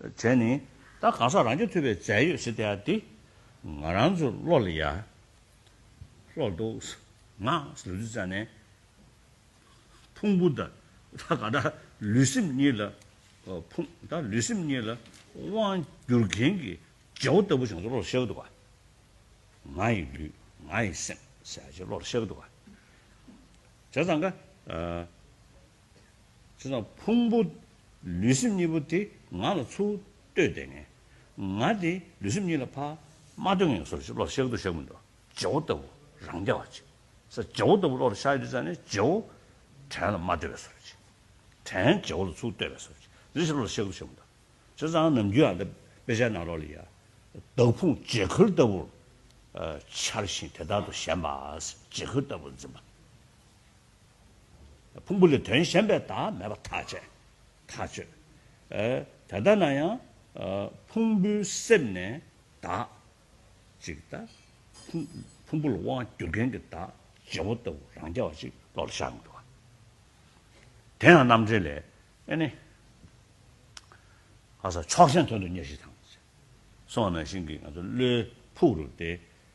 བྲལ་ནི། ད་གང་ཟག་རང་རྒྱུད་ཐུལ་བའི་རྫས་ཡོད་སྲིད་དེ། འདི་ང་རང་ཚོ་བློ་ལ་ཡ། ལྷོག་འདུག། ང། ལུས་འདི་རྩ་ནས། ཕུང་པོ་ད། ད་གང་ཟག་ལུས་སེམས་གཉིས་ལ། ཕུང། ད་ལུས་སེམས་གཉིས་ལ། དབང། བསྒྱུར་མཁན་གྱི། རྗེ་བོ་ལྟ་བུ་བྱང་ཆུབ་བློ་ལ་ཤར་གི་འདུག་ག། ང་ཡི་ལུས། ང་ཡི་སེམས། ཟས་བཅད་བློ་ལ་ཤར་གི་འདུག་ག། བྱས་ཙང་ག། དེ་དང་ཕུང་པོ་ལུས་སེམས་གཉིས་པོ་དེ་ང་ལ་ཚུར་ལྟོས་དེ་ངས་ང་དེ་ལུས་སེམས་གཉིས་ལ་ཕ་མ་ལྟོས་ངན་སོར་བཞི་བློར་གཤེགས་འདུག་གཤེགས་མི་འདུག་རྗེ་བོ་ལྟ་བུ་རང་རྐྱ་བ་ཅིག་ས་རྗེ་བོ་ལྟ་བུ་བློར་ཤར་ཡོད་ཙང་ནས་རྗེ་བོ་བྲན་ལ་མ་ལྟོས་བའི་སོར་བཞི་བྲན་རྗེ་བོ་ལ་ཚུར་ལྟོས་བའི་སོར་བཞི་བཞི་བཞི་བློར་གཤེགས་འདུག་གཤེགས་མི་འདུག་བྱས་ཙང་ནམ་རྒྱུན་ཨ་མདའ་དཔེ་ཆའི་ནང་ལོགས་ལ་ཡང་བདག་ཕུང་བརྗེད་ཁུལ་ལྟ་བུར་འཆར་ཞིང་དེ་དག་ཏུ་གཞན་པ་བརྗེད་ཁུལ་ལྟ་བུར་འཛིན་པ། ཕུང་པོ་ལས་དོན་གཞན་པའི་བདག་མེད་པ་ཐག་བཅད། ཐག་གཅོད། དེ་ལྟ་ན་ཡང། ཕུང་པོའི་གསེབ་ནས་བདག། ཅིག་ལྟ། ཕུང་པོ་ལ་དབང་བསྒྱུར་མཁན་གྱི་བདག། བྱེད་པོ་ལྟ་བུ་རང་རྐྱ་བ་ཅིག་བློ་ལ་ཤར་མི་འགྲོ། དེ་ཡང་རྣམ་འགྲེལ་ལས། ཨེ་ནི། ལྷ་ས་ཕྱོགས་ཞེན་དོན་དུ་གཉེར་ཞིག་དང། སོགས་ནང་བཞིན་གྱི་ང་ཚོ་བློའི་ཕུག་རུ་སྟེ།